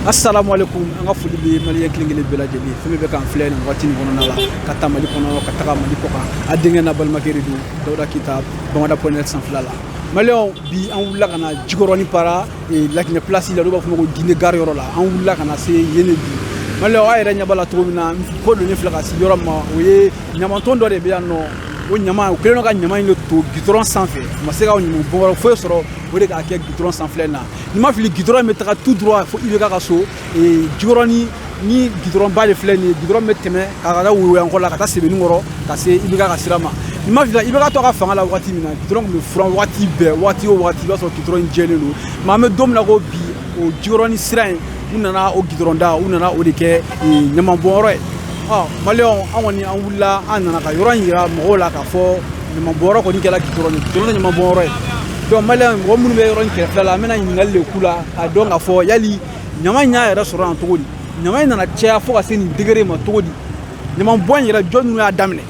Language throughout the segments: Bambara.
asalamualeykum an ka foli bɛ maliyɛn kelen kelen bɛɛ lajɛlen fɛn min bɛ k'an filɛ nin wagati nin kɔnɔna la ka taa mali kɔnɔ ka taga mali kɔ kan a denkɛ n'a balimakɛ de don dawuda keyita bamada point net sanfɛla la maliyɛnw bi an wulila ka na jikɔrɔni para laginɛ pilasi la olu b'a fɔ ma ko gine gari yɔrɔ la an wulila ka na se yen de bi maliyɛnw aw yɛrɛ ɲɛ b'a la cogo min na ko don ne filɛ ka se yɔrɔ min ma o ye ɲamanton dɔ de bɛ yan nɔ o ɲama u kɛlen don ka ɲama in de ton gidɔrɔn sanfɛ u ma se ka ɲamanbɔnyɔrɔ foyi sɔrɔ o de k'a kɛ gidɔrɔn sanfɛla n'i ma fili gidɔrɔn bɛ taga tout droit fo IBK ka so jikɔrɔni ni gidɔrɔnba de filɛ nin ye gidɔrɔn bɛ tɛmɛ ka ka taa woyowayankɔ la ka taa sebeninkɔrɔ ka se IBK ka sira ma n'i ma fili IBK to ka fanga la waati min na gidɔrɔn tun bɛ furan waati bɛɛ waati o waati i b'a sɔrɔ gidɔrɔn in jɛlen don mais an bɛ don min na ko bi o jikɔrɔni sira in u nana o gidɔrɔnda u nana o de kɛ ɲamanbɔnyɔrɔ ye maliyɛnw an kɔni an wulila an nana ka yɔrɔ in jira mɔgɔw la k'a fɔ ɲamabɔnyɔrɔ kɔni kɛra gidɔrɔn gidɔrɔn tɛ ɲamabɔnyɔrɔ ye donc maliyɛnw mɔgɔ minnu bɛ yɔrɔ in kɛrɛfɛ la an bɛna ɲininkali de k'u la k'a dɔn k'a fɔ yali ɲama in y'a yɛrɛ sɔrɔ yan cogo di ɲama in nana caya fo ka se nin degré ma cogo di ɲamabɔn in yɛrɛ jɔn ninnu y'a daminɛ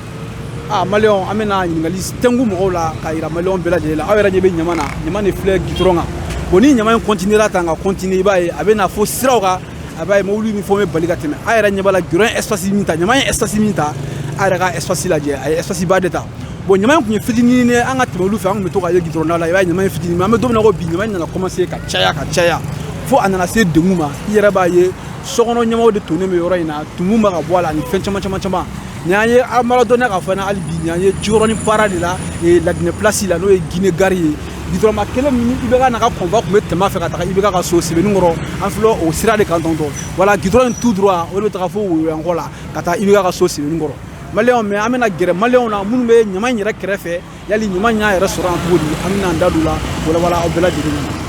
a maliyɛnw an bɛna ɲininkali de k'o mɔgɔw la k'a yira maliyɛnw bɛɛ lajɛlen la aw yɛrɛ ɲɛ bɛ ɲama na ɲama de filɛ gidɔrɔn kan bon ni ɲama in kɔntinera tan ka kɔntine i b'a ye a bɛ na fo siraw kan a b'a ye mobili min fɔ bɛ bali ka tɛmɛ a yɛrɛ ɲɛ b'a la gidɔrɔn ye espace min ta ɲama ye espace min ta a yɛrɛ ka espace lajɛ a ye espace ba de ta bon ɲama in tun ye fitinin ye an ka tɛmɛ olu fɛ an tun bɛ to ka ye gidɔrɔn da la i b'a ye ɲama ye fitinin mais an bɛ don min na ko bi ɲama in nana commencer ka caya ka caya fo a nana se degun ma i yɛrɛ b'a ye sokɔnɔ ɲamaw de tonnen bɛ yɔrɔ in na tumu bɛ ka bɔ a la ani fɛn caman caman caman nin an ye an b'a dɔnniya k'a fɔ hali bi nin an ye jikɔrɔni para de la laginɛ pilasi la n'o ye gine gari ye gidɔrɔnba kelen min IBK n'a ka convoi tun bɛ tɛmɛ fɛ ka taga IBK ka so sebeninkɔrɔ an filɛ o sira de kan tɔntɔn voilà gidɔrɔn in tout droit o de bɛ taga fo woyowayankɔ la ka taa IBK ka so sebeninkɔrɔ maliyɛnw mais an bɛna gɛrɛ maliyɛnw na minnu bɛ ɲama in yɛrɛ kɛrɛfɛ yali ɲama in y'a yɛrɛ sɔrɔ yan cogo di an bɛna an da don la walawala aw bɛɛ lajɛlen ɲɛna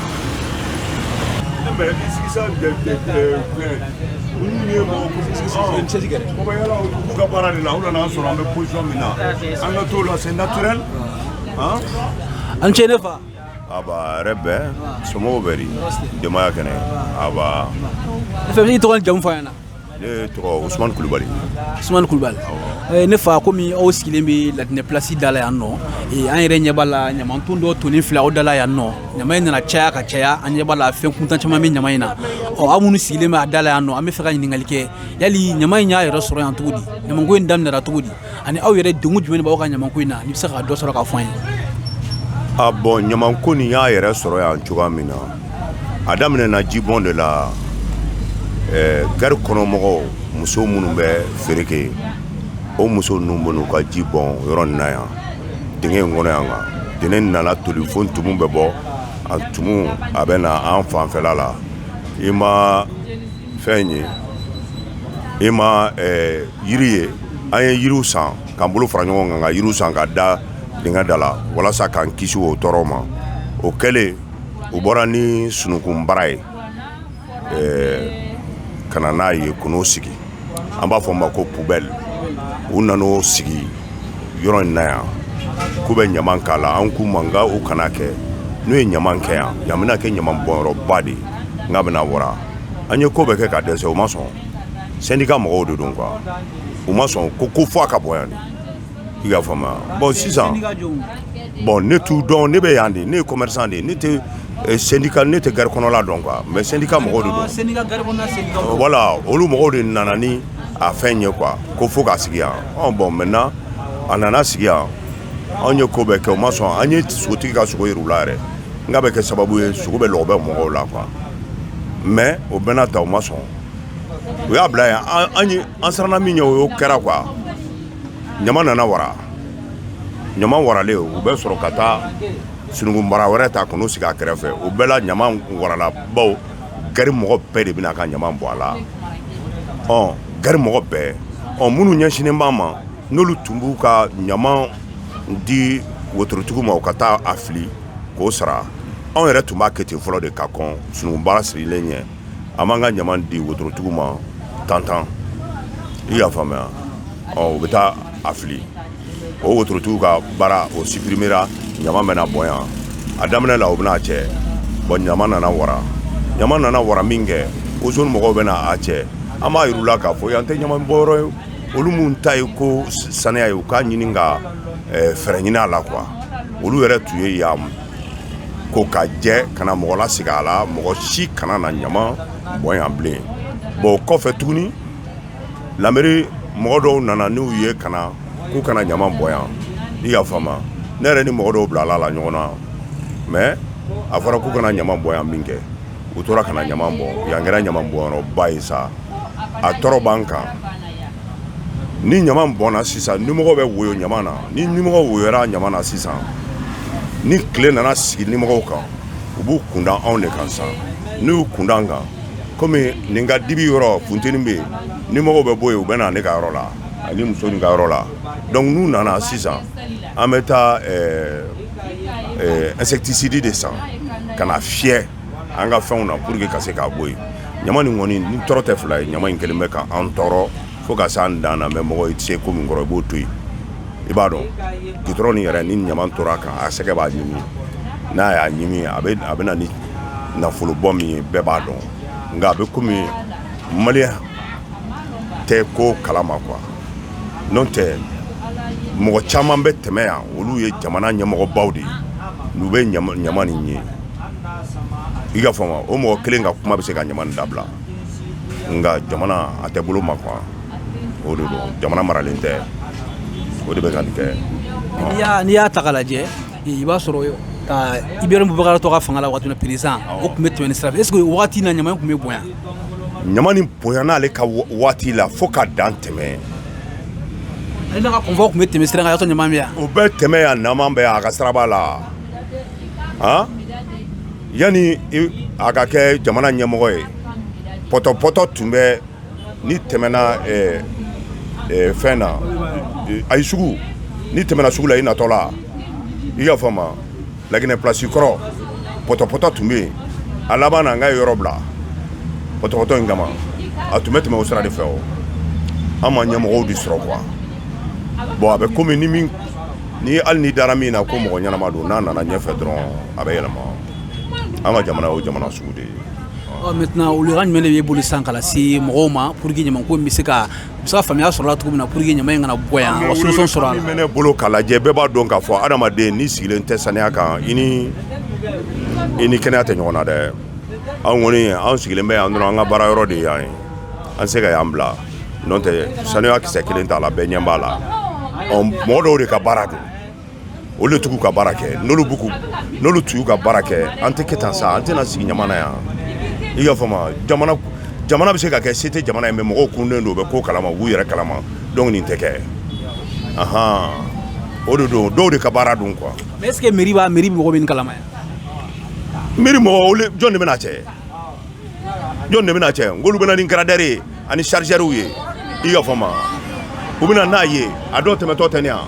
ka baara de la u nana sɔrɔ an bɛ position min na an ka t'o la c'est naturel a ni ce ne fa nba hɛrɛ bɛ somɔgɔw bɛ di denbaya kɛnɛ a n fa i b'i tɔgɔ ni jamu fɔ an ɲɛna ne tɔgɔ osuman kulubali osuman kulubali eh, ne fa komi aw sigilen bɛ laginɛ pilasi da la yan nɔ eh, an yɛrɛ ɲɛ b'a la ɲamanton dɔ tonnen filɛ aw da la yan nɔ ɲama in nana caya ka caya an ɲɛ b'a la fɛn kuntan caman bɛ ɲama in na ɔ aw minnu sigilen bɛ a da la yan nɔ an bɛ fɛ ka ɲininkali kɛ yali ɲama in y'a yɛrɛ sɔrɔ yan cogo di ɲamanko in daminɛra cogo di ani aw yɛrɛ degun jumɛn b'aw ka ɲamako in na n'i bɛ se ka dɔ sɔrɔ k'a fɔ an ye a bon ɲamako nin y'a yɛrɛ sɔrɔ yan cogoya min na a daminɛ na jibɔn de la gari kɔnɔmɔgɔw muso minnu bɛ feere kɛ o muso ninnu bɛ n'u ka ji bɔn yɔrɔ nin na yan dingɛ in kɔnɔ yan kan dingɛ nana toli fo tumu bɛ bɔ a tumu a bɛ na an fanfɛla la i ma fɛn in ye e ma eh, yiri ye an ye yiriw san k'an bolo fara ɲɔgɔn kan ka yiriw san ka da dingɛ da la walasa k'an kisi o tɔɔrɔ ma o kɛlen u bɔra ni sunukunbara ye eh, ka na n'a ye k'o n'o sigi an b'a fɔ o ma ko poubelle u nan'o sigi yɔrɔ in na yan k'u bɛ ɲaman k'a la an k'u ma nka u kana kɛ n'u ye ɲaman kɛ yan yan bɛna kɛ ɲaman bɔnyɔrɔba de ye nka bɛna wara an ye ko bɛɛ kɛ ka dɛsɛ u ma sɔn syndicat mɔgɔw de don quoi u ma sɔn ko fo a ka bɔ yan de i y'a faamuya bon sisan bon ne t'u dɔn ne bɛ yan de ne ye commerçant de ye ne tɛ sɛndi ne tɛ gari kɔnɔla dɔn quoi mais syndicat mɔgɔw de don voilà olu mɔgɔw de nana ni a fɛn ye quoi ko fo k'a sigi yan bon maintenant a nana sigi yan anw ye ko bɛɛ kɛ u ma sɔn an ye sogotigi ka sogo yir'u la yɛrɛ n ka bɛ kɛ sababu ye sogo bɛ lɔgɔ bɛ mɔgɔw la quoi mais o bɛɛ n'a ta u ma sɔn u y'a bila yan an siranna min ɲɛ o y'o kɛra quoi ɲama nana wara ɲama waralen u bɛ sɔrɔ ka taa sunukunbara wɛrɛ ta k'o sigi a kɛrɛfɛ o bɛɛ la ɲama warala bawo gari mɔgɔ bɛɛ de bɛna ka ɲama bɔ a la ɔ gari mɔgɔ bɛɛ ɔ minnu ɲɛsinnen b'an ma n'olu tun b'u ka ɲama di wotorotigiw ma u ka taa a fili k'o sara anw yɛrɛ tun b'a kɛ ten fɔlɔ de ka kɔn sunukunbara sigilen ɲɛ an b'an ka ɲama di wotorotigiw ma tantan i y'a faamuya ɔ u bɛ taa a fili o wotorotigiw ka baara o suprimera ɲama bɛna bɔn yan a daminɛ la u bɛna a cɛ bon ɲama nana wara ɲama nana wara min kɛ ozone mɔgɔw bɛna a cɛ an b'a yir'u la k'a fɔ yan tɛ ɲama bɔnyɔrɔ ye olu minnu ta ye ko saniya ye u k'a ɲini ka eh, fɛɛrɛ ɲini a la quoi olu yɛrɛ tun ye yan ko ka jɛ ka na mɔgɔ lasigi a la mɔgɔ si kana na ɲama bɔn yan bilen bon o kɔfɛ tuguni lamɛri mɔgɔ dɔw nana n'u ye ka na k'u kana ɲama bɔn yan i y'a faamu ne yɛrɛ ni mɔgɔ dɔw bilala ɲɔgɔn na mais a fɔra k'u kana ɲama bɔn yan min kɛ u tora kana ɲama bɔ yan kɛra ɲama bɔyɔrɔba ye sa a tɔɔrɔ b'an kan ni ɲama bɔnna sisan nimɔgɔ bɛ woyo ɲama na ni nimɔgɔ woyora ɲama na sisan ni tile nana sigi nimɔgɔw kan u b'u kunda anw de kan san n'u y'u kunda an kan komi nin ka dibi yɔrɔ funteni bɛ yen nimɔgɔw bɛ bɔ yen u bɛ na ne ka yɔrɔ la ani muso nin ka yɔrɔ la donc n'u nana sisan An bɛ taa insecticide de san ka na fiyɛ an ka fɛnw na pour que ka se k'a bɔ yen ɲama nin kɔni ni tɔɔrɔ tɛ fila ye ɲama in kelen bɛ ka an tɔɔrɔ fo ka se an dan na mais mɔgɔ i tɛ se ko min kɔrɔ i b'o to yen i b'a dɔn gudɔrɔn nin yɛrɛ ni ɲama tora a kan a sɛgɛ b'a ɲimi n'a y'a ɲimi a bɛ na ni nafolo bɔ min ye bɛɛ b'a dɔn nka a bɛ kɔmi maliyɛn tɛ ko kalama quoi n'o tɛ mɔgɔ caman bɛ tɛmɛ yan olu ye jamana ɲɛmɔgɔbaw de ye n'u bɛ ɲama nin ye i k'a faamu o mɔgɔ kelen ka kuma bɛ se ka ɲama nin dabila nka jamana a tɛ bolo ma quoi o de don jamana maralen tɛ o de bɛ ka nin kɛ n'i y'a ta k'a lajɛ i b'a sɔrɔ ka IBK to fanga la waati min président o tun bɛ tɛmɛ nin sira fɛ est ce que o waati na ɲama tun bɛ bonya ɲama nin bonya n'ale ka waati la fo ka dan tɛmɛ ale n'a ka convoi tun bɛ tɛmɛ sira kan y'a sɔrɔ ɲama bɛ yan o bɛ tɛmɛ yan ɲama bɛ a ka siraba la yanni a ka kɛ jamana ɲɛmɔgɔ ye pɔtɔpɔtɔ tun bɛ n'i tɛmɛna fɛn na ayi sugu n'i tɛmɛna sugu la i natɔ la i y'a faamu laginɛ plasi kɔrɔ pɔtɔpɔtɔ tun bɛ yen a labanna ka yen yɔrɔ bila pɔtɔpɔtɔ in kama a tun bɛ tɛmɛ o sira de fɛ o an ma ɲɛmɔgɔw de sɔrɔ quoi bon a bɛ kɔmi ni min ni hali n'i dara min na ko mɔgɔ ɲɛnama don n'a nana ɲɛfɛ dɔrɔn a bɛ yɛlɛma an ka jamana o jamana sugu de ye ɔ maintenant welekan jumɛn de b'e bolo sisan ka lase mɔgɔw ma pour que ɲaman ko in bɛ se ka u bɛ se ka faamuya sɔrɔ a la cogo min na pour que ɲaman in kana bɔ yan ka solution sɔrɔ a la. min bɛ ne bolo k'a lajɛ bɛɛ b'a dɔn k'a fɔ adamaden n'i sigilen tɛ saniya kan i ni i ni kɛnɛya tɛ ɲɔgɔn na dɛ anw kɔni anw sigilen bɛ yan dɔrɔn an ka baara yɔrɔ de ye yan ye an se ka yan bila n'o tɛ saniya kisɛ kelen t'a la bɛɛ ɲɛ b'a la ɔ mɔgɔ dɔw de ka baara don olu de t'u ka baara kɛ n'olu b'u n'olu tun b'u ka baara kɛ an tɛ kɛ tan sa an tɛna sigi ɲama na yan i y'a faamu jamana bɛ se ka kɛ se tɛ jamana ye mais mɔgɔw kununnen don u bɛ ko kalama u b'u yɛrɛ kalama donc nin tɛ kɛ ahan o de don dɔw de ka baara don quoi est ce que mairie b'a mairie mɔgɔ bɛ nin kalama yan mairie mɔgɔ jɔn de bɛna cɛ jɔn de bɛna cɛ n'olu bɛna ni garadɛri ye ani sarizɛriw ye i y'a faamu u bɛna n'a ye a dɔw tɛmɛtɔ tɛ yan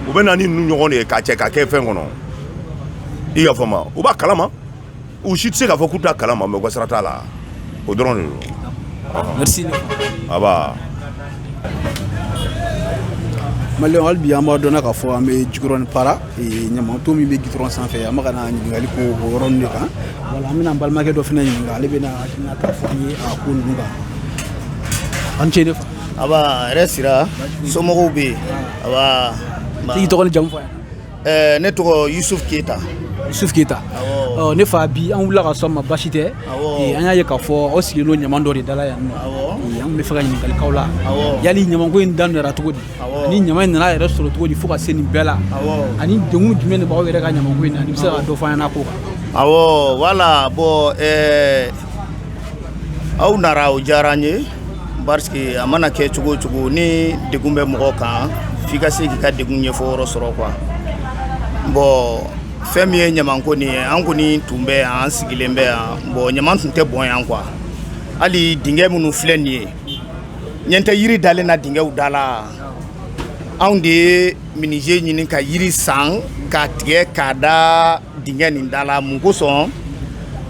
u bɛ na ni ninnu ɲɔgɔn de ye k'a cɛ k'a kɛ fɛn kɔnɔ i y'a faamu u b'a kalama u si tɛ se k'a fɔ k'u t'a kalama mɛ u ka sira t'a la o dɔrɔn de don aba mali hali bi an b'a dɔn k'a fɔ an bɛ jikɔrɔni para ɲamaton min bɛ gitɔrɔn sanfɛ an bɛ ka na ɲininkali k'o yɔrɔnin de kan wala an bɛna balimakɛ dɔ fana ɲininka ale bɛna hakilinata fɔ an ye a ko ninnu kan an ce ne fa a hɛrɛ sira somɔgɔw bɛ yen a i tɔgɔ ni jamu fɔ yan ne tɔgɔ yusuf keyita yusuf keyita ne fa bi an wulila ka se aw ma basi tɛ an y'a ye k'a fɔ aw sigilen don ɲama dɔ de dala yan an b'a fɛ ka ɲininkali k'aw la yali ɲama ko in daminɛra cogo di Ani ɲama in nana yɛrɛ sɔrɔ cogo di fo ka se nin bɛɛ la ani degun jumɛn de b'aw yɛrɛ ka ɲama ko in na n'i bɛ se ka dɔ fɔ an ɲɛna ko kan awɔ wala bɔn aw nana o diyara an ye parce que a mana kɛ cogo o cogo ni degun bɛ mɔgɔ kan f'i ka se k'i ka degun ɲɛfɔ yɔrɔ sɔrɔ quoi bɔn fɛn min ye ɲama ko nin ye an kɔni tun bɛ yan an sigilen bɛ yan bɔn ɲama tun tɛ bɔn yan quoi hali dingɛ minnu filɛ nin ye ɲɛ tɛ yiri dalen na dingɛw da la anw de ye menuisier ɲini ka yiri san k'a tigɛ k'a da dingɛ nin da la mun kosɔn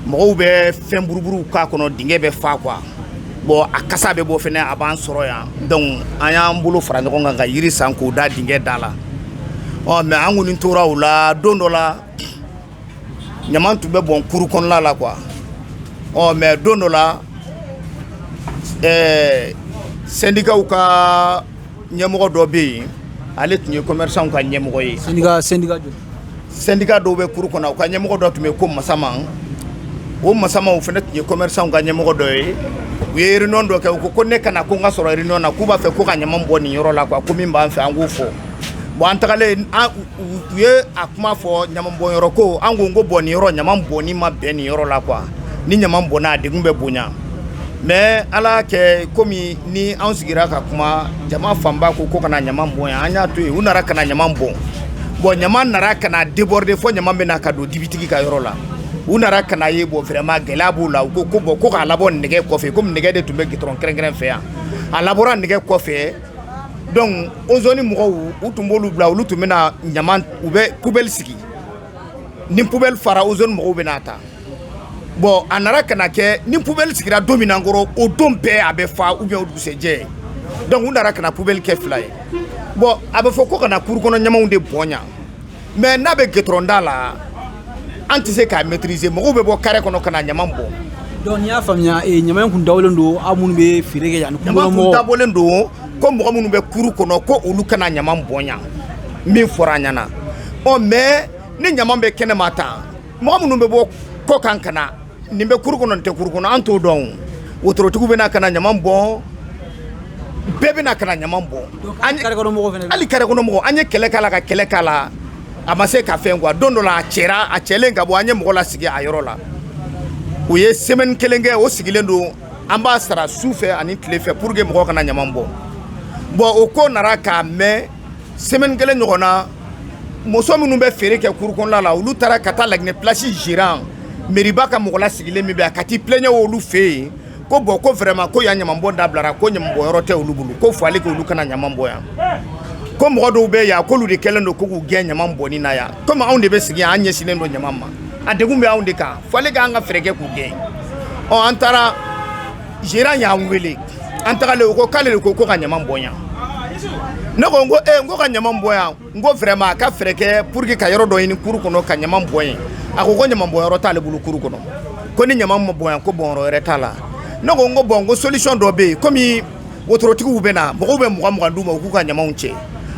mɔgɔw bɛ fɛn buruburuw k'a kɔnɔ dingɛ bɛ fa quoi bɔn a kasa bɛ bɔ fɛnɛ a b'an sɔrɔ yan dɔnku an y'an bolo fara ɲɔgɔn kan ka yiri san k'o da dingɛ da la ɔ mɛ an kɔni tora o la don dɔ la ɲama tun bɛ bɔn kuru kɔnɔna la quoi ɔ mais don dɔ la ɛɛ syndicatw ka ɲɛmɔgɔ dɔ bɛ yen ale tun ye commerçantw ka ɲɛmɔgɔ ye syndicat syndicat joli syndicat dɔw bɛ kuru kɔnɔ u ka ɲɛmɔgɔ dɔ tun bɛ ko Masaman o Masaman o fana tun ye commerçantw ka ɲɛmɔgɔ dɔ ye u ye réunion dɔ kɛ u ko ko ne ka na ko n ka sɔrɔ réunion na k'u b'a fɛ ko ka ɲama bɔ nin yɔrɔ la quoi ko min b'an fɛ an k'o fɔ bon an tagalen an U ye a kuma fɔ ɲama bɔn yɔrɔ ko an ko ko bɔn nin yɔrɔ ɲama bɔnni ma bɛn nin yɔrɔ la quoi ni ɲama bɔnna a degun bɛ bonya mɛ ala y'a kɛ komi ni an sigira ka kuma jama fanba ko ko kana ɲama bɔn yan an y'a to yen u nana ka na ɲama bɔn bɔn ɲama nana ka na déborder fo ɲama bɛna ka don dibitigi ka yɔrɔ la u nana ka n'a ye bɔn vraiment gɛlɛya b'u la u ko ko bɔn ko k'a labɔ nɛgɛ kɔfɛ komi nɛgɛ de tun bɛ gitɔrɔn kɛrɛnkɛrɛn fɛ yan a labɔra nɛgɛ kɔfɛ dɔnku ozoni mɔgɔw u tun b'olu bila olu tun bɛna ɲama u bɛ pubɛli sigi ni pubɛli fara ozoni mɔgɔw bɛ n'a ta bɔn a nana ka na kɛ ni pubɛli sigira don min na kɔrɔ o don bɛɛ a bɛ fa ou bien o dugusɛjɛ dɔnku u nana ka na pubɛli kɛ fila ye bɔn a bɛ fɔ ko ka na kuru kɔnɔ ɲamaw de bɔn mɛ n'a bɛ gidɔrɔn da la an tɛ se k'a mɛtirise mɔgɔw bɛ bɔ kare kɔnɔ ka na ɲama bɔn dɔnku n'i y'a faamuya eh, ɲama kun dabɔlen don aw minnu bɛ feere kɛ yan kun dabɔlen don ko mɔgɔ minnu bɛ kuru kɔnɔ ko olu kana ɲama bɔn yan min fɔra an ɲɛ na ɔ mɛ ni ɲama bɛ kɛnɛ ma tan Mɔgɔ minnu bɛ bɔ kɔ kan ka na nin bɛ kuru kɔnɔ nin tɛ kuru kɔnɔ an t'o dɔn wotorotigiw bɛ na ka na ɲama bɔn bɛɛ bɛ na ka na ɲama bɔn hali kare kɔnɔ mɔgɔ an ye kɛlɛ k'a la ka kɛlɛ k'a la a ma se ka fɛn quoi don dɔ la a cɛ a cɛlen ka bɔ an ye mɔgɔ lasigi a yɔrɔ la o ye sɛmɛni kelen kɛ o sigilen don an b'a sara su fɛ ani tile fɛ pour que mɔgɔ kana ɲama bɔn bɔn o ko nana ka mɛɛn semaine kelen ɲɔgɔn na muso minnu bɛ feere kɛ cour kɔnɔna la olu taara ka taa laginɛ place gérant meriba ka mɔgɔ lasigilen min bɛ yan ka t'i plɛɲɛ olu fɛ yen ko bɔn ko vraiment ko yan ɲamanbɔn dabilara ko ɲamanbɔn yɔrɔ tɛ olu bolo ko fo ale k'olu kana ɲaman bɔn yan ko mɔgɔ dɔw bɛ yan k'olu de kɛlen don ko k'u gɛn ɲaman bɔnni na yan komi anw de bɛ sigi yan an ɲɛsinnen don ɲaman ma a degun bɛ anw de kan fo ale k'an ka fɛɛrɛ kɛ k'u gɛn ɔ an taara gérant y'an weele an tagalen o ko k'ale de ko ko ka ɲama bɔn yan ne ko n ko e ko ka ɲama bɔn yan n ko vraiment a ka fɛɛrɛ kɛ pour que ka yɔrɔ dɔ ɲini kuru kɔnɔ ka ɲama bɔn yen a ko ko ɲama bɔn yɔrɔ t'ale bolo kuru kɔnɔ ko ni ɲama ma bɔn yan ko bɔn yɔrɔ wɛrɛ t'a la ne ko n ko bɔn ko solution dɔ bɛ yen kɔmi wotorotigiw bɛ na mɔgɔw bɛ mugan d'u ma u k'u ka ɲamaw cɛ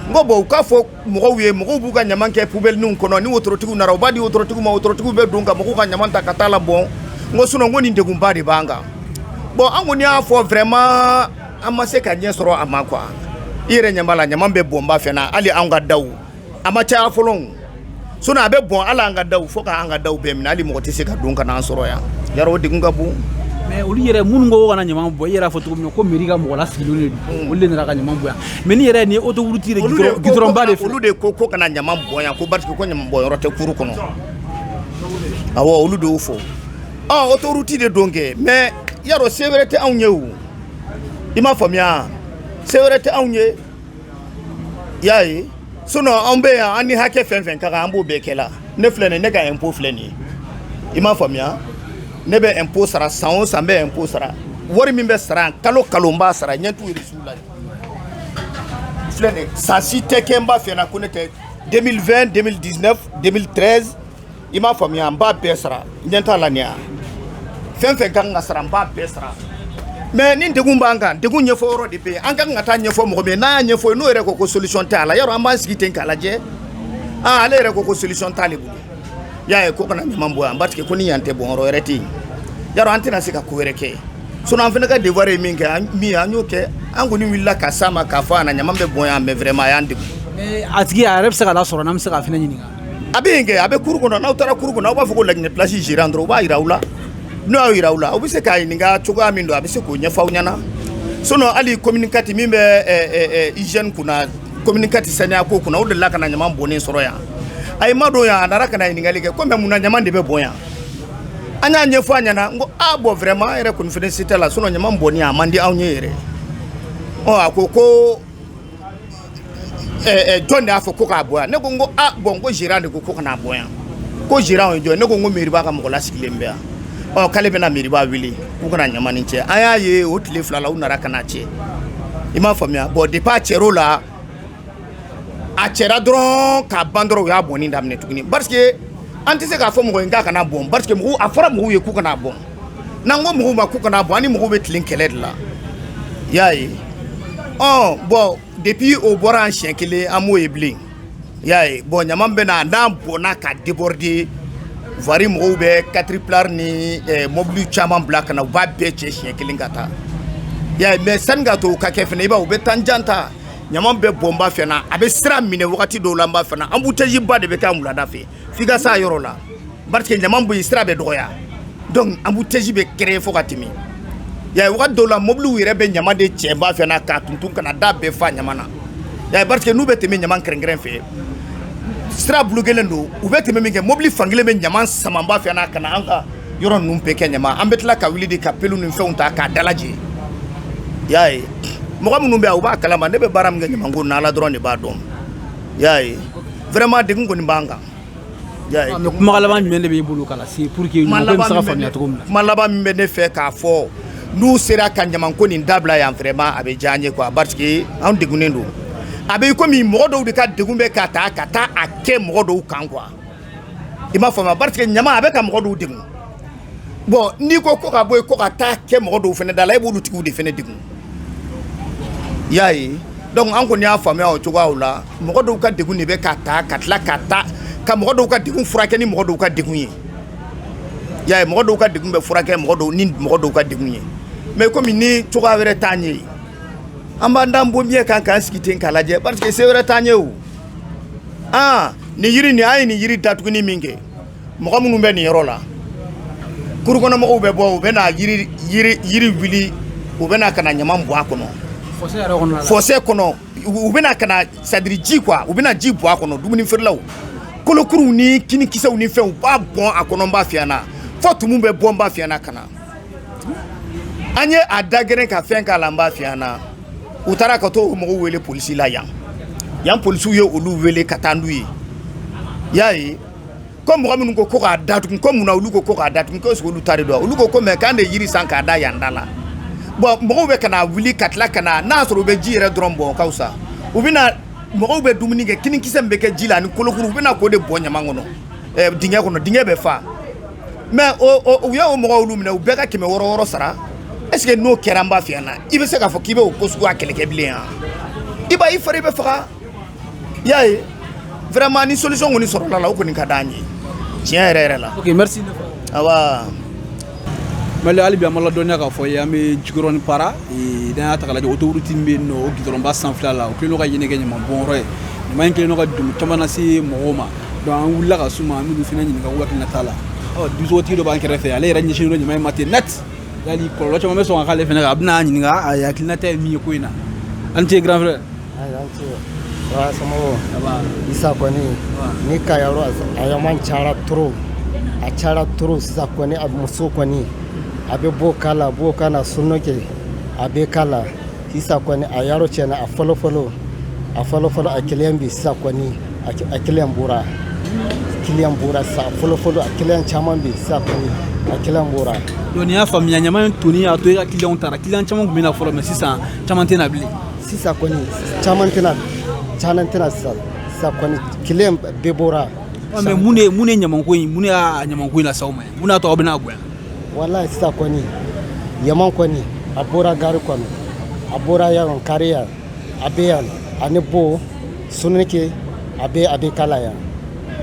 n ko bɔn u k'a fɔ mɔgɔw ye mɔgɔw b'u ka ɲama kɛ pubɛlininw kɔnɔ ni wotorotigi nana u b'a di wotorotigi ma wotorotigi bɛ don ka mɔgɔw ka ɲama ta ka taa a labɔn n ko sinon ko nin degunba de b'an kan bɔn an kɔni y'a fɔ vraiment an ma se ka ɲɛ sɔrɔ a ma quoi i yɛrɛ ɲɛ b'a la ɲama bɛ bɔn n b'a f'i ɲɛ na hali an ka daw a ma caya fɔlɔ sinon a bɛ bɔn a la an ka daw fo k'an ka daw bɛɛ minɛ hali mɔgɔ tɛ se ka don ka n'an sɔrɔ yan ya o degun ka bon mɛ olu yɛrɛ minnu ko kana ɲama bɔn i yɛrɛ fɔ cogo min ko meri ka mɔgɔ lasigilen de mm. olu de nana ka ɲama bɔn yan mɛ ni yɛrɛ ni otoruti gidɔrɔnba de olu de ko ko kana ɲama bɔn yan ko parce que ko ɲama bɔn yɔrɔ tɛ kuru kɔnɔ awɔ olu de y'o fɔ otoruti de don kɛ mɛ y'a dɔn se wɛrɛ tɛ anw ye o i m'a faamuya se wɛrɛ tɛ anw ye y'a ye sinon anw bɛ yan an ni hakɛ fɛn fɛn ka kan an b'o bɛɛ kɛ la ne filɛ nin ne ka impôt filɛ nin ye i m'a faamuya ne bɛ impôt sara san o san n bɛ impôt sara wari min bɛ sara yan kalo kalo n b'a sara ɲɛ t'u reçu la filɛ nin ye san si tɛ kɛ n b'a f'i ɲɛ na ko ne tɛ 2020 2019 2013 i m'a faamuya n b'a bɛɛ sara ɲɛ t'a la nin yan fɛn fɛn ka kan ka sara n b'a bɛɛ sara mais ni degun b'an kan degun ɲɛfɔ yɔrɔ de bɛ yen an ka kan ka taa ɲɛfɔ mɔgɔ min n'a y'a ɲɛfɔ n'o yɛrɛ ko ko solution t'a la yɔrɔ an b'an sigi ten k'a lajɛ aa ale yɛrɛ ko ko solution t'ale bolo y'a ye ko kana ɲaman bɔn yan parce que ko ni yan tɛ bɔn yɔrɔ wɛrɛ tɛ yen yɔrɔ an tɛna se ka ko wɛrɛ kɛ sinon an fana ka devoir ye min kɛ min an y'o kɛ an kɔni wulila ka s'a ma k'a fɔ a na ɲaman bɛ bɔn yan mais vraiment a y'an degun a tigi a yɛrɛ bɛ se ka lasɔrɔ n'an bɛ se k'a fɛnɛ ɲininka A bɛ yen kɛ a bɛ cour kɔnɔ n'aw taara cour kɔnɔ aw b'a fɔ ko La Guinée place gérant dɔrɔn u b'a jira aw la n'u y'a jira aw la aw bɛ se k'a ɲininka cogoya min don a bɛ se k'o ɲɛfɔ aw ɲɛna sinon hali commune 4 min bɛ hygiène kunna commune 4 saniya ko kunna o delila ka na ɲaman bɔnnen sɔrɔ yan a y'i madon yan a nana ka na ɲininkali kɛ ko mais mun na ɲaman de bɛ bɔn yan an y'a ɲɛfɔ a ɲɛna n ko a bon vraiment an yɛrɛ kɔni fana se t'a la sinon ɲaman bɔnni a man di anw ye yɛrɛ ɔ a ko ko jɔn de y'a fɔ ko k'a bɔn yan ne ko n ko a bon ko gérant de ko ko kana bɔn yan ko gérant ye jɔn ne ko n ko mairie ba ka mɔgɔ lasigilen bɛ yan ɔ k'ale bɛna mairie ba wele k'u ka na ɲaman nin cɛ an y'a ye o tile fila la u nana ka n'a cɛ i m'a faamuya bon depuis a cɛr'o la a cɛra dɔrɔn k'a ban dɔrɔn u y'a bɔnni daminɛ tuguni parce que an tɛ se k'a fɔ mɔgɔ ye k'a kana bɔn parce que mɔgɔw a fɔra mɔgɔw ye k'u kana bɔn N'an ko mɔgɔw ma k'u kana bɔn an ni mɔgɔw bɛ tilen kɛlɛ de la i y'a ye ɔ bon depuis o bɔra an siɲɛ kelen an m'o ye bilen i y'a ye bon ɲaman bɛ na n'a bɔnna ka déborder voirie mɔgɔw bɛ caterpillar ni eh, mɔbiliw caman bila ka na u b'a bɛɛ cɛ siɲɛ kelen ka taa i y'a ye mais sanni ka to o ka kɛ fana i b'a ye u bɛ temps jan ta ɲaman bɛ bɔn ba fɛ na a bɛ sira minɛ wagati dɔw la n b'a fɛ na embouteillage ba de bɛ kɛ yan wulada fɛ f'i ka s'a yɔrɔ la parce que ɲaman bɛ yen sira bɛ dɔgɔya donc embouteillage bɛ créer fo ka tɛmɛ y'a wagati dɔw la mobiliw yɛrɛ bɛ ɲaman de cɛ ba fɛ na k'a tuntun ka na da bɛɛ fa ɲaman na y'a parce que n'u bɛ tɛmɛ ɲaman kɛrɛ kɛrɛ fɛ sira bulukelen don u bɛ tɛmɛ min kɛ mobili fankelen bɛ ɲaman sama ba fɛ na ka na an ka yɔrɔ ninnu bɛɛ kɛ ɲaman an bɛ tila ka wuli de ka pelu ni fɛnw ta k'a dalajɛ y'a ye mɔgɔ minnu bɛ yan u b'a kalama ne bɛ baara min kɛ ɲamanko na Ala dɔrɔn de b'a dɔn y'a ye vraiment degun kɔni b'an kan mais kuma laban jumɛn de b'i bolo k'a lase pour que mɔgɔ bɛ se k'a faamuya cogo min na kuma laban min bɛ ne fɛ k'a fɔ n'u sera ka ɲamanko nin dabila yan vraiment a bɛ diya an ye quoi parce que anw degunnen don a bɛ komi mɔgɔ dɔw de ka degun bɛ ka taa ka taa a kɛ mɔgɔ dɔw kan quoi i m'a faamuya parce que ɲaman a bɛ ka mɔgɔ dɔw degun bon n'i ko ko ka bɔ yen ko ka taa kɛ mɔgɔ dɔw fɛnɛ da la e b'olu tigiw de fɛnɛ degun y'a ye donc an kɔni y'a faamuya o cogoya la mɔgɔ dɔw ka degun de bɛ ka taa ka tila ka taa ka mɔgɔ dɔw ka degun furakɛ ni mɔgɔ dɔw ka degun ye y'a ye mɔgɔ dɔw ka degun bɛ furakɛ mɔgɔ ni mɔgɔ dɔw ka degun ye mais kɔmi ni cogoya wɛrɛ t'an ye an b'an dan bonbiɲɛ kan k'an sigi ten k'a lajɛ parce que se wɛrɛ t'an ye o aa nin yiri nin an ye nin yiri datuguni min kɛ mɔgɔ minnu bɛ nin yɔrɔ la kurukɔnɔmɔgɔw bɛ bɔ u bɛna yiri wuli u bɛna ka na ɲaman bɔn a kɔnɔ fossé kɔnɔ u bɛna ka na c'est-à-dire ji quoi u bɛna ji bɔn a kɔnɔ dumuni feerelaw kolokuruw ni kinikisɛw ni fɛn u b'a bɔn a kɔnɔ n b'a f'i ɲɛna fo tumu bɛ bɔ n b'a f'i ɲɛna ka na an ye a da gɛrɛn ka fɛn k'a la n b'a f'i ɲɛna u taara ka to o mɔgɔw wele polisi la yan yan polisiw ye olu wele ka taa n'u ye y'a ye ko mɔgɔ minnu ko ko k'a datugu ko mun na olu ko ko k'a datugu ko est-ce que olu ta de don olu ko ko mais k'an de yiri san k'a da yan da la bon mɔgɔw bɛ ka na wuli ka tila ka na n'a sɔrɔ u bɛ ji yɛrɛ dɔrɔn bɔn ka fisa u bɛna mɔgɔw bɛ dumuni kɛ kinikisɛ min bɛ kɛ ji la ani kolokuru u bɛna k'o de bɔn ɲaman kɔnɔ eh, dingɛ kɔnɔ dingɛ bɛ fa mais u y'o mɔgɔw olu minɛ u bɛɛ ka kɛmɛ wɔɔrɔ wɔɔrɔ sara est-ce que n'o kɛra n b'a f'i ɲɛna i bɛ se k'a fɔ k'i bɛ o ko suguya kɛlɛ kɛ bilen yan i b'a i fari bɛ faga y'a ye vraiment ni solution kɔni sɔrɔla la o kɔni ka d'an ye tiɲɛ yɛrɛ yɛrɛ la ok merci awa mali hali bi an b'aw ladɔnniya k'a f'aw ye an bɛ jikɔrɔni para n'an y'a ta k'a lajɛ autoroute min bɛ yen nɔ o gudɔrɔnba sanfɛla la o kɛlen don ka yen kɛ ɲaman bɔnyɔrɔ ye ɲaman in kɛlen don ka degun caman lase mɔgɔw ma donc an wulila ka s'u ma an b'olu fana ɲininka u hakilinata la ɔ dibisogotigi dɔ b'an kɛrɛfɛ ale yɛrɛ ɲɛsinnen don ɲaman in ma ten net yali kɔlɔlɔ caman bɛ sɔn ka k'ale fana kan an bɛn'a ɲininka a hakilinata ye min ye ko in na aw ni ce grand frère sisan kɔni ne ka yɔrɔ a ɲaman cayara trop a cayara trop sisan kɔni a muso kɔni a bɛ bo k'a la bo ka na sugunɛ kɛ a bɛ k'a la sisan kɔni a yɔrɔ tiɲɛna a fɔlɔ fɔlɔ a fɔlɔ fɔlɔ a kiliyan bɛ sisan kɔni a kiliyan bɔra kiliyan bɔra sisan fɔlɔ fɔlɔ a kiliyan caman bɛ sisan kɔni a kiliyan bɔra donc n y'a faamuya ɲaman in tonni y'a to i ka kiliyanw taara kiliyan caman tun bɛ na fɔlɔ mais sisan caman tɛ na bilen sisan kɔni caman tɛ na caman tɛ na sisan sisan kɔni kiliyan bɛɛ bɔra mais mun de mun de ɲamanko in mun y'a ɲamanko in lase aw ma mun y'a to aw bɛna gɛn walayi sisan kɔni ɲaman kɔni a bɔra gari kɔnɔ a bɔra yan kari yan a bɛ yan ani bo sugunɛ kɛ a bɛ a bɛ k'a la yan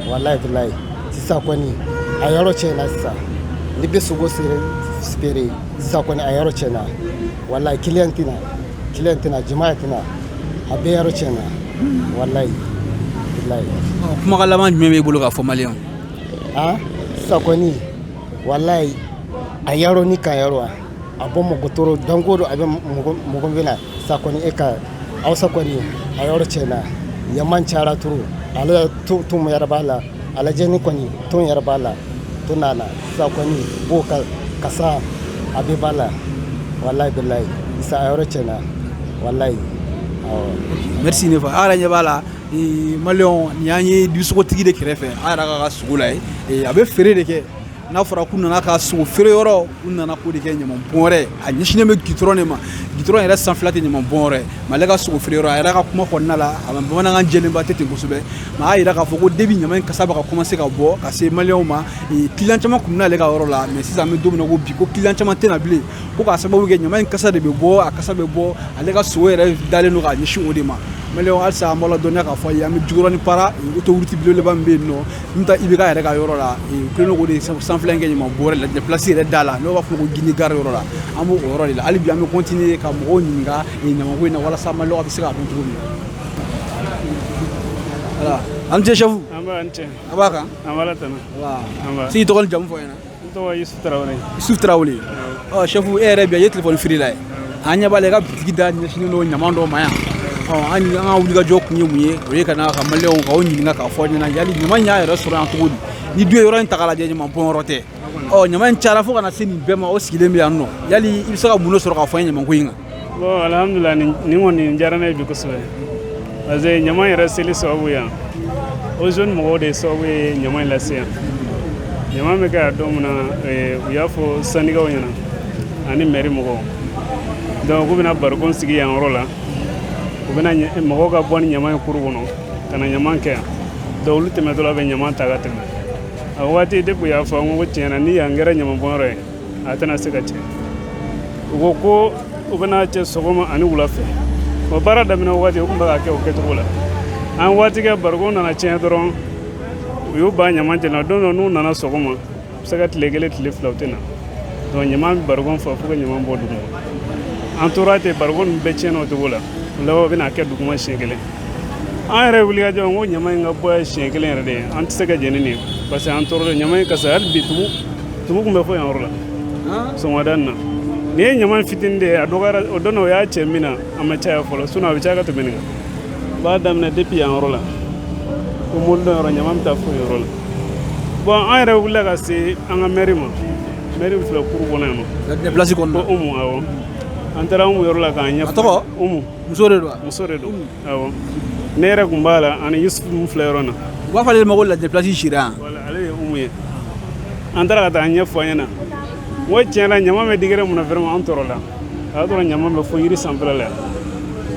walayi bilayi sisan kɔni a yɔrɔ tiɲɛna sisan ne bɛ sogo feere sibere sisan kɔni a yɔrɔ tiɲɛna walayi kiliyan tɛ na Client tɛ na jama tɛ na a bɛ yɔrɔ cɛna walayi kuma laban jumɛn b'i bolo k'a fɔ maliyɛnw ye sa kɔni walayi a yɔrɔ ni ka yɔrɔ wa a bɛ mɔgɔ tɔɔrɔ danko don a bɛ mɔgɔ bana sa kɔni e ka aw sa kɔni a yɔrɔ cɛna ɲama cayara trop ale ton ton yɛrɛ b'a la a lajɛ nin kɔni ton yɛrɛ b'a la to n'a na sa kɔni bo kasa a bɛɛ b'a la walayi bilayi sa a yɔrɔ cɛna walayi merci ne fa a yɛrɛ ɲɛ b'a la maliyɛnw nin y'an ye dibisogotigi de kɛrɛfɛ a yɛrɛ k'a ka sogo lajɛ a bɛ feere de kɛ n'a fɔra k'u nana ka sogo feere yɔrɔ u nana ko de kɛ ɲama bɔnyɔrɔ a ɲɛsinnen bɛ gitɔrɔn de ma gitɔrɔn yɛrɛ sanfɛla tɛ ɲama bɔnyɔrɔ mais ale ka sogo feere yɔrɔ a yɛrɛ ka kuma kɔnɔna la a bamanankan jɛlenba tɛ ten kosɛbɛ mais a y'a jira k'a fɔ ko depuis ɲama in kasa bɛ ka commencer ka bɔ ka se maliyɛnw ma client caman tun bɛ n'ale ka yɔrɔ la mais sisan an bɛ don min na ko bi ko client caman tɛ na bilen ko k'a sababu kɛ ɲama in kasa de bɛ bɔ a kasa bɛ bɔ ale ka sogo yɛrɛ dalen don k'a ɲɛsin o de ma maliyɛnw halisa an b'aw ladɔnniya k'a fɔ aw ye an bɛ Jikɔrɔni Para autoroute belebeleba min bɛ yen nɔ Min bɛ taa IBK yɛrɛ ka yɔrɔ la, u kɛlen don k'o de sanfɛla in kɛ ɲaman bɔn yɔrɔ ye place yɛrɛ da la n'o b'a fɔ ko Guinée gare yɔrɔ la, an b'o yɔrɔ de la hali bi an bɛ continuer ka mɔgɔw ɲininka nin ɲaman ko in na walasa maliyɛnw bɛ se k'a dɔn cogo min na, voilà, a ni ce chef, nba, a ni ce, a b'a kan, nba, Ala tanu, nba, i tɔgɔ ni jamu fɔ an ɲɛna N tɔgɔ ye Yusuf Tarawele. Yusuf Tarawele. Ɔ chef e yɛrɛ bi ye telefɔni feerela ye. An ɲɛ b'a la i ka bitigi da ɲɛsinnen don ɲaman dɔ ma yan. Ɔ an an ka wulikajɔ kun ye mun ye? O ye ka na ka maliyɛnw k'aw ɲininka k'a fɔ ɲɛna yali ɲaman in y'a yɛrɛ sɔrɔ yan cogo di? Ni dun ye yɔrɔ in ta k'a lajɛ ɲaman bɔnyɔrɔ tɛ. Ɔ ɲaman in cayara fo ka na se nin bɛɛ ma o sigilen bɛ yan nɔ. Yali i bɛ se ka mun de sɔrɔ k'a fɔ an ye ɲaman ko in kan? bon alhamdulila nin kɔni nin diyara ne ye bi kosɛbɛ parce que ɲama yɛrɛ seli sababu yan Ozone mɔgɔw de sababu ye ɲama in lase yan ɲama bɛ kɛ yan don min na eh, u y'a fɔ syndicat ɲɛna ani mɛri mɔgɔw donc k'u bɛna barikon sigi yan yɔrɔ la u bɛna mɔgɔw ka bɔ ni ɲama ye kuru kɔnɔ ka na ɲama kɛ yan donc olu tɛmɛtɔla bɛ ɲama ta ka tɛmɛ a waati depuis u y'a fɔ n ko tiɲɛ na ni yan kɛra ɲamabɔnyɔrɔ ye a tɛna se ka cɛ u ko ko u bɛna cɛ sɔgɔma ani wula fɛ o baara daminɛ waati u tun bɛ ka kɛ o kɛcogo la an waati kɛ barikon nana tiɲɛ dɔrɔn u y'u ban ɲama cɛ la don dɔ n'u nana sɔgɔma u bɛ se ka tile kelen tile fila u tɛ na donc ɲama bɛ barikon fa fo ka ɲama bɔ duguma an tora ten barikon ninnu bɛɛ tiɲɛna o cogo la o laban u bɛna kɛ duguma siɲɛ kelen an yɛrɛ wulikajɔ n ko ɲama in ka bɔ siɲɛ kelen yɛrɛ de ye an tɛ se ka jɛn ni nin ye parce que an tɔɔrɔ don ɲama in kasa hali bi tugun tumu tun bɛ fo yan yɔrɔ la sɔgɔmada nin na nin ye ɲama fitini de ye a dɔgɔyara o don o y'a cɛ min na a ma caya fɔlɔ sinon a bɛ caya ka tɛmɛ nin kan n b'a daminɛ depuis yan yɔrɔ la ko mobili dɔ yɔrɔ ɲama bɛ taa fo yɔrɔ la bon an yɛrɛ wulila ka se an ka mɛri ma mɛri min filɛ kuru kɔnɔ yan nɔ pilasi kɔnɔ ko umu awɔ an taara umu yɔrɔ la k'a ɲɛfɔ a tɔgɔ umu muso de don muso de don ne yɛrɛ tun b'a la ani yusufu min filɛ yɔrɔ na u b'a fɔ ale ma ko ladelasi sira ale ye umu ye an taara ka taa a ɲɛfɔ a ɲɛna n ko tiɲɛ la ɲama bɛ digɛrɛ mun na vraiment an tɔɔrɔla o y'a sɔrɔ ɲama bɛ fo yiri sanfɛla la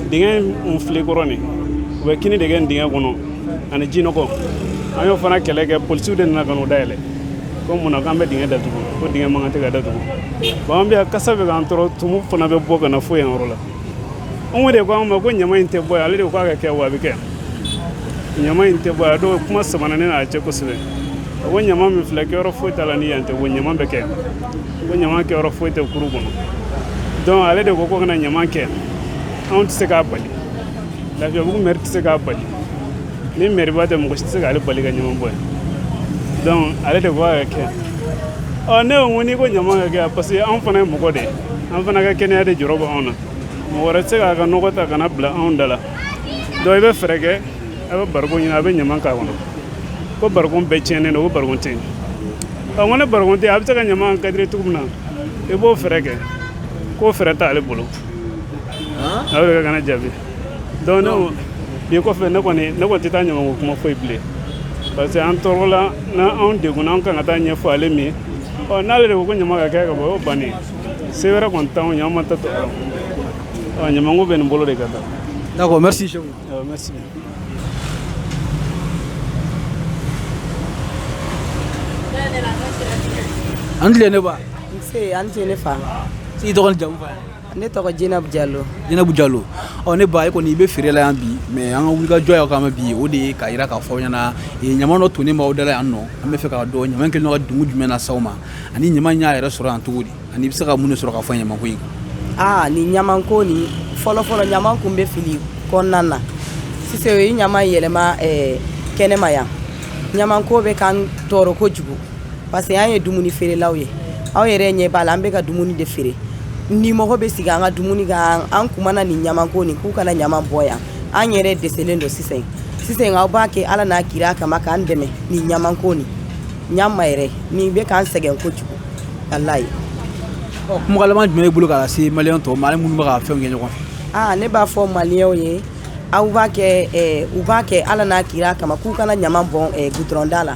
dingɛ in filɛ kɔrɔ nin u bɛ kini de kɛ nin dingɛ kɔnɔ ani ji nɔgɔ an y'o fana kɛlɛ kɛ polisiw de nana ka n'o dayɛlɛ ko mun na k'an bɛ dingɛ datugu ko dingɛ man kan tɛ ka datugu bon an bɛ yan kasa bɛ k'an tɔɔrɔ tumu fana bɛ bɔ ka na fo yan yɔrɔ la ale de ko an ma ko ɲama in tɛ bɔ ale de ko a ka kɛ wa a bɛ kɛ ɲama in tɛ bɔ yan donc kuma samana ne n'a cɛ kosɛbɛ a ko ɲama min filɛ kɛyɔrɔ foyi t'a la ni yan tɛ ko ɲama bɛ kɛ ko ɲama kɛyɔrɔ foyi tɛ kuru kɔnɔ donc ale de ko ko ka na ɲama kɛ anw tɛ se k'a bali lafiyabugu mɛri tɛ se k'a bali ni mɛriba tɛ mɔgɔ si tɛ se k'ale bali ka ɲama bɔn yan donc ale de ko a ka kɛ ɔ ne ko n'i ko ɲama ka kɛ parce que anw fana ye mɔgɔ de ye an fana ka kɛnɛya de jɔrɔ bɛ anw na mɔgɔ wɛrɛ tɛ se k'a ka nɔgɔ ta ka na bila anw da la donc i bɛ fɛɛrɛ kɛ a bɛ barikon ɲini a bɛ ɲama k'a kɔnɔ ko barikon bɛɛ tiɲɛnen don ko barikon tɛ yen n ko ni barikon tɛ yen a bɛ se ka ɲama kadiri cogo min na i b'o fɛɛrɛ kɛ k'o fɛɛrɛ t'ale bolo a bɛ ka k'an jaabi donc ne bi kɔfɛ ne kɔni ne kɔni tɛ taa ɲama ko kuma fɔ yen bilen parce que an tɔɔrɔla n'an degunna an kan ka taa ɲɛfɔ ale min ɔ n'ale de ko ko ɲama ka kɛ ka bɔ o bannen se wɛrɛ kɔni t'anw ye an ma ta tɔ ɔ ɲamanko bɛ nin bolo de kan tan d'accord merci chef ɔ merci a ni tile ne ba nse a ni tile ne fa i tɔgɔ n'i jamu fɔ ne tɔgɔ jinabu jalo jinabu jalo ɔ ne ba e kɔni i bɛ feere la yan bi mais an ka wulikajɔ y'aw kama bi o de ye k'a jira k'a fɔ ɲɛna ɲama dɔ tonnen b'aw dala yan nɔ an bɛ fɛ k'a dɔn ɲama kɛlen ka degun jumɛn lase aw ma ani ɲama y'a yɛrɛ sɔrɔ yan cogo di ani i bɛ se ka mun de sɔrɔ k'a fɔ ɲamako in na aa nin ɲamanko nin fɔlɔfɔlɔ ɲama tun bɛ fili kɔnɔna na sisan u ye ɲama yɛlɛma kɛnɛma yan ɲamanko bɛ k'an tɔɔrɔ kojugu parce que an ye dumuni feerelaw ye aw yɛrɛ ɲɛ b'a la an bɛ ka dumuni de feere dimɔgɔ bɛ sigi an ka dumuni kan an kumana nin ɲamanko nin k'u kana ɲaman bɔn yan an yɛrɛ dɛsɛlen don sisan sisan aw b'a kɛ ala n'a kira kama k'an dɛmɛ nin ɲamanko nin ɲama yɛrɛ nin bɛ k'an sɛgɛn kojugu walayi kuma laban jumɛn b'i bolo k'a lase maliyɛn tɔw ma ani minnu bɛ ka fɛnw kɛ ɲɔgɔn fɛ aa ne b'a fɔ maliyɛnw ye aw b'a kɛ u b'a kɛ ala n'a kira kama k'u kana ɲaman bɔn gudɔrɔnda la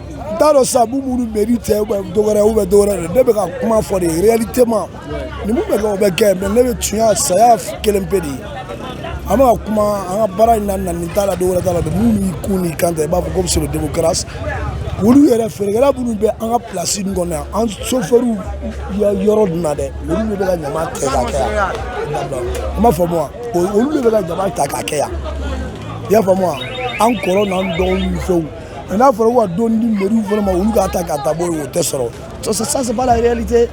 n t'a dɔn sabu minnu mɛri tɛ dɔwɛrɛ u bɛ dɔwɛrɛ dɛ ne bɛ ka kuma fɔ de réalitément nin mun bɛ kɛ o bɛ kɛ mais ne bɛ tiɲɛ saya kelen pe de ye an bɛ ka kuma an ka baara in na nin t'a la dɔwɛrɛ t'a la de minnu y'i kun n'i kan ta i b'a fɔ ko c'est le démocratie olu yɛrɛ feerekɛla minnu bɛ an ka place in kɔnɔ yan an sofɛriw yɔrɔ dun na dɛ olu de bɛ ka ɲaman kɛ ka kɛ yan i m'a faamu wa olu de bɛ ka ɲaman ta ka kɛ yan i y'a faamu wa an kɔrɔ n'an dɔgɔw ni fɛnw mais n'a fɔra ka dɔɔnin di mairie fana ma olu k'a ta ka taa bɔn o tɛ sɔrɔ ça c'est pas la réalité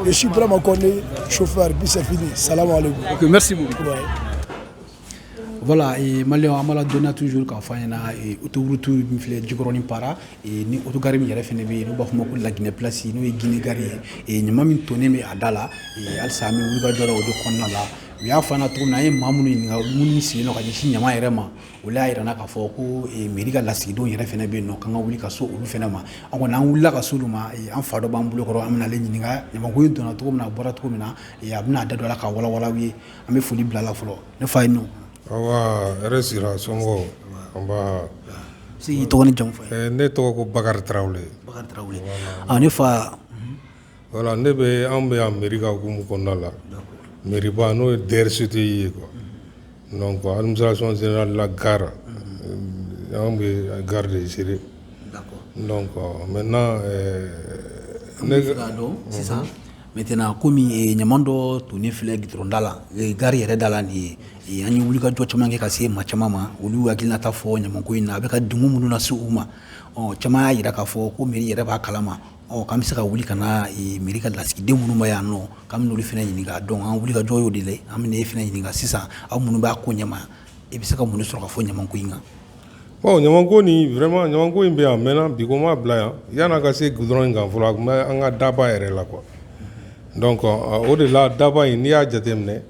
je suis vraiment connu chauffeur puis c'est fini salam voilà mali an b'a la donc toujours k'a fɔ ɲɛna autoroute min filɛ jikɔrɔnin para ni autogare min yɛrɛ fana bɛ yen n'u b'a fɔ o ma ko laginɛ plasi n'o ye Guinée gare ye ɲaman min tonnen bɛ a da la halisa an bɛ wulikajɔ la o de kɔnɔna la u y'a fɔ an na cogo min na an ye maa minnu ɲininka minnu sigilen don ka ɲɛsin ɲaman yɛrɛ ma olu y'a yira an na k'a fɔ ko mairie ka lasigidenw yɛrɛ fana bɛ yen nɔ k'an ka wuli ka se olu fana ma an kɔni an wulila ka se olu ma an fa dɔ b'an bolo kɔrɔ an bɛna ale ɲininka ɲamanko in donna cogo min a bɔra cogo min na a bɛna a da don a la ka walawala aw ye an bɛ foli bila a la fɔlɔ ne fa ye nɔ hɛrɛ sira somɔgɔw i tɔgɔ ni jamu fɔ ne tɔgɔ ko bakari tarawele ne fa Voilà ne be anw be yan mairie ka hukumu kɔnɔna la d'accord mairie ba n'o ye DRCT ye quoi unhun donc administration générale la gare unhun anw be gare de gérer d'accord donc maintenant ɛɛ an b'a fɛ k'a dɔn sisan unhun maintenant comme ee ɲaman dɔ tonnen filɛ goudron da la ee gare yɛrɛ da la nin ye ee an ye wulikajɔ caman kɛ ka se maa caman ma olu y'u hakilinata fɔ ɲamanko in na a be ka degun minnu lase u ma ɔɔ caman y'a yira k'a fɔ ko mairie yɛrɛ b'a kalama Ɔ k'an bɛ se ka wuli ka na mairie ka lasigidenw minnu bɛ yan nɔ k'an bɛ n'olu fana ɲininka donc an wulikajɔ y'o de la an bɛna e fana ɲininka sisan aw minnu b'a ko ɲɛma i bɛ se ka mun de sɔrɔ ka fɔ ɲamanko in kan bon ɲamanko nin vraiment ɲamanko in bɛ yan a mɛnna bi ko ma bila yan yan'a ka se goudron in kan fɔlɔ a tun bɛ an ka daba yɛrɛ la quoi donc o de la daba in n'i y'a jateminɛ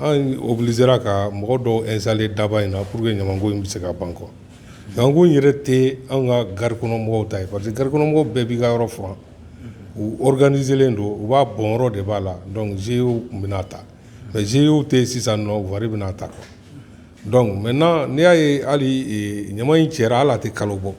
An obligéra ka mɔgɔ dɔw installer daba in na pour que ɲamanko in bɛ se ka ban quoi ɲamanko in yɛrɛ tɛ an ka gari kɔnɔmɔgɔw ta ye parce que gari kɔnɔmɔgɔw bɛɛ b'i ka yɔrɔ furan u organiselen don u b'a bɔn yɔrɔ de b'a la donc Ozone tun bɛ n'a ta mais Ozone tɛ sisan nɔ voirie bɛ n'a ta quoi donc maintenant n'i y'a ye hali ɲaman in cɛra hali a tɛ kalo bɔ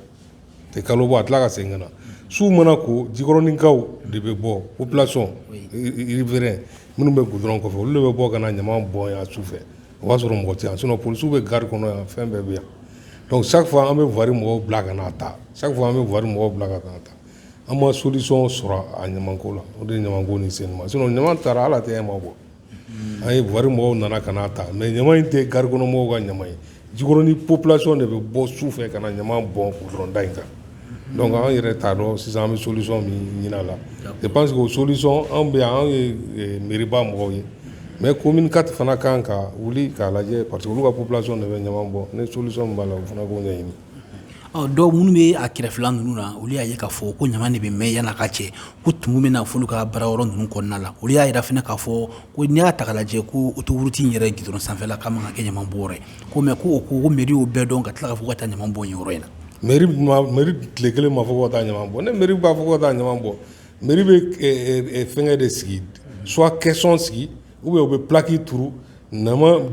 tɛ kalo bɔ a tila ka segin ka na su mana ko jikɔrɔninkaw de bɛ bɔ population riverain minnu bɛ goudron kɔfɛ olu de bɛ bɔ ka na ɲaman bɔn yan su fɛ o b'a sɔrɔ mɔgɔ tɛ yan sinon polisiw bɛ gari kɔnɔ yan fɛn bɛɛ bɛ yan chaque fois an bɛ voirie mɔgɔw bila ka n'a ta chaque fois an bɛ voirie mɔgɔw bila ka n'a ta an ma solution sɔrɔ a ɲamanko la o de ye ɲamanko nin sen ma sinon ɲaman tara ala tɛ ma bɔ An ye voirie mɔgɔw nana ka n'a ta mɛ ɲama in tɛ garikɔnɔmɔgɔw ka ɲama ye Jikɔrɔni population de bɛ bɔ su fɛ ka na ɲama bɔn gudɔrɔnda in kan dɔnku an yɛrɛ t'a dɔn sisan an bɛ solisɔn min ɲini a la je pense que o solisɔn anw bɛ anw ye mairieba mɔgɔw ye mɛ commune quatre fana kan ka wuli k'a lajɛ parce que olu ka population de bɛ ɲama bɔ ni solisɔn min b'a la u fana k'o ɲɛɲini ɔ dɔw minnu bɛ a kɛrɛfɛla ninnu na olu y'a ye k'a fɔ ko ɲama de bɛ mɛn yan a ka cɛ ko tumu bɛ na f'olu ka baara yɔrɔ ninnu kɔnɔna la olu y'a jira fana k'a fɔ ko n'i y'a ta k'a lajɛ ko autoroute in yɛrɛ gudɔrɔn sanfɛla k'a man ka kɛ ɲama bɔyɔrɔ ye ko mɛ ko mairie y'o bɛɛ dɔn ka tila ka fɔ ka taa ɲama bɔ yen yɔrɔ in na mairie tile kelen ma fɔ ka taa ɲama bɔ ni mairie b'a fɔ ka taa ɲama bɔ mairie bɛ fɛnkɛ de sigi suwa kɛsɔn sigi U bɛ u bɛ paki tuuru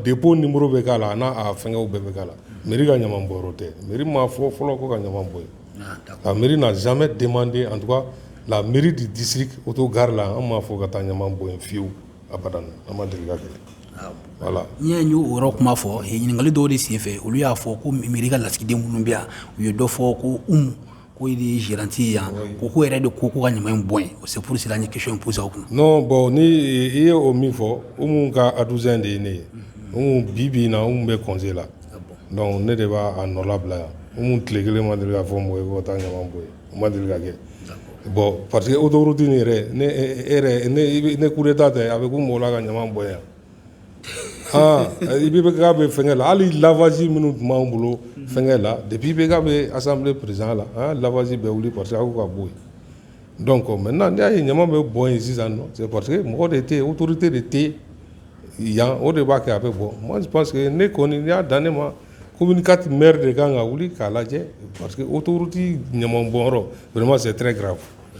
dep ni muru bɛ k'a la n'a fɛnkɛ bɛɛ bɛ k'a la mi ka ɲama bɔ tɛ mi ma fɔ fɔlɔ ko ka ɲama bɔ ka mi na zanme denmanden an la miiri de disiri o to gari la an b'a fɔ ka taa ɲama bɔ fiyewu a ma deli wala n y' y'o wɔɔrɔ kuma fɔ ɲininkakali dɔw de senfɛ olu y'a fɔ ko mi ka lasigiden minnu bɛ yan u ye dɔ fɔ ko k'o de gérante ye yan ko k'o yɛrɛ de ko ko ka ɲama bɔ yen c'est pour cela an ye question in posé aw kun non bɔn ni i ye o min fɔ Umu ka adjoint de ye ne ye Umu bi bi in na Umu bɛ congé la dɔnku ne de b'a nɔ labila yan Umu tile kelen ma deli k'a fɔ mɔgɔ ye ko ka taa ɲama bɔ yen o ma deli ka kɛ bɔn parce que autoroute in yɛrɛ ni coup d'état tɛ a bɛ ko mɔgɔw la ka ɲama bɔ yan i bɛ bɛ'a bɛ fɛn la hali lafaz minnu tun b'an bolo fɛnkɛ la de bi bɛ bɛ asan perez la lafaz bɛ wuli parce que ka bɔ yen dɔn kɔ mɛ n' y'a ye ɲama bɛ bɔ yen sisan parce que mɔgɔ de tɛ otourute de tɛ yan o de b'a kɛ a bɛ bɔ mɔn parce que ne kɔni y'a dan ne ma ko mini ka tɛmɛ de kan ka wuli k'a lajɛ parce que otouru tɛ ɲama bɔma se tɛ kɛra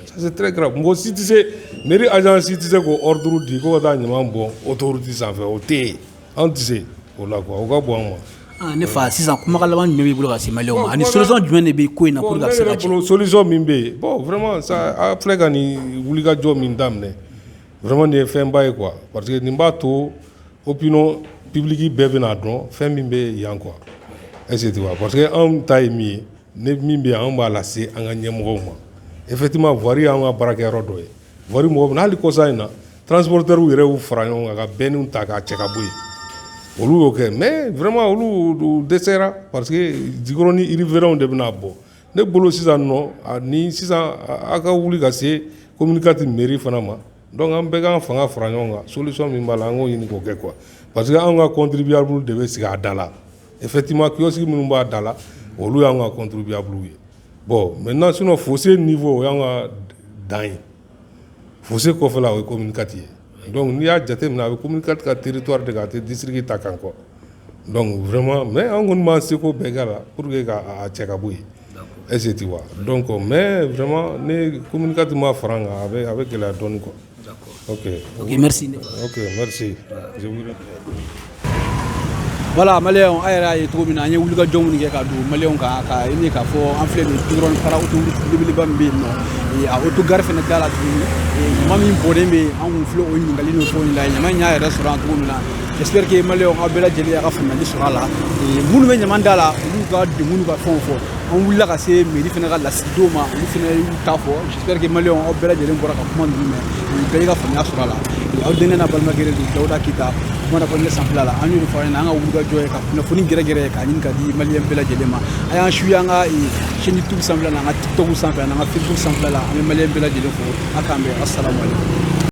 Ça c'est très grave mɔgɔ si tɛ se mairie agent si tɛ se k'o ordre di ko ka taa ɲama bɔ autoroute sanfɛ o tɛ yen anw tɛ se o la kuwa o ka bɔ anw ma ne fa sisan kumakan laban jumɛn b'i bolo ka se maliyɛnw ma ani solisɔn jumɛn de bɛ ko in na solisɔn min bɛ yen bɔn vraiment ça a filɛ ka nin wulikajɔ min daminɛ vraiment nin ye fɛn ba ye kuwa parce que nin b'a to opinion publique bɛɛ bɛna dɔn fɛn min bɛ yan kuwa est-ce que parce que anw ta ye min ye Ni min bɛ yan anw b'a lase an ka ɲɛmɔgɔw ma effectivement voirie y'an ka baarakɛ yɔrɔ dɔ ye voirie mɔgɔ bɛ hali kɔsa in na transporteurw yɛrɛ y'u fara ɲɔgɔn kan ka bɛnniw ta k'a cɛ ka bɔ yen olu y'o kɛ mɛ vraiment olu dɛsɛra parce que Jikɔrɔni riverainw de bɛ n'a bɔ ne bolo sisan ni sisan aw ka wuli ka se commune quatre mairie fana ma dɔnku an bɛɛ k'an fanga fara ɲɔgɔn kan solisɔn min b'a la an k'o ɲini k'o kɛ kuwa parce que an ka contribuable de bɛ sigi a da la Effectivement kiosque minnu b'a da la, olu y'an ka contribuables ye. Bon maintenant sinon fossé niveau o y'an ka dan ye. Fossé kɔfɛla o ye commune IV ye. Donc n'i y'a jateminɛ a bɛ commune IV ka territoire de kan a tɛ district ta kan quoi. Donc vraiment mais an kɔni b'an seko bɛɛ kɛ a la pour que ka a cɛ ka bɔ yen. D'accord est-ce que tu vois? Donc mais vraiment ni commune IV ma fara an kan a bɛ gɛlɛya dɔɔni quoi. Ok. Ok, merci. Ok, merci. Voilà maliyɛnw a yɛrɛ y'a ye cogo min na an ye wulikajɔ minnu kɛ ka don maliyɛnw kan ka ɲini k'a fɔ an filɛ nin goudron fara autoroute belebeleba min bɛ yen nɔ a autogare fana da la tuguni ɲama min bɔnnen bɛ yen an kun filɛ o ɲininkali n'o fɛnw la ɲama in y'a yɛrɛ sɔrɔ yan cogo min na j'espère que maliyɛnw aw bɛɛ lajɛlen y'a ka faamuyali sɔrɔ a la minnu bɛ ɲama da la olu ka degun n'u ka fɛnw fɔ an wulila ka se mairie fana ka lasigidenw ma olu fana y'u ta fɔ J'espère que Maliens aw bɛɛ lajɛlen bɔra ka kuma ninnu mɛn bɛɛ y'i ka faamuya sɔrɔ a la aw denkɛ n'a balimakɛ de don dawuda keyita kuma na fɔ ne sanfɛla la an y'o de fɔ an ɲɛna an ka wulikajɔ ye ka kunnafoni gɛrɛgɛrɛ ye k'a ɲini ka di maliyɛn bɛɛ lajɛlen ma a y'an suivre an ka chaîne youtube sanfɛla la an ka tiktok sanfɛ an'an ka facebook sanfɛla la an bɛ maliyɛn bɛɛ lajɛlen fo a k'an bɛn asalamu aleykum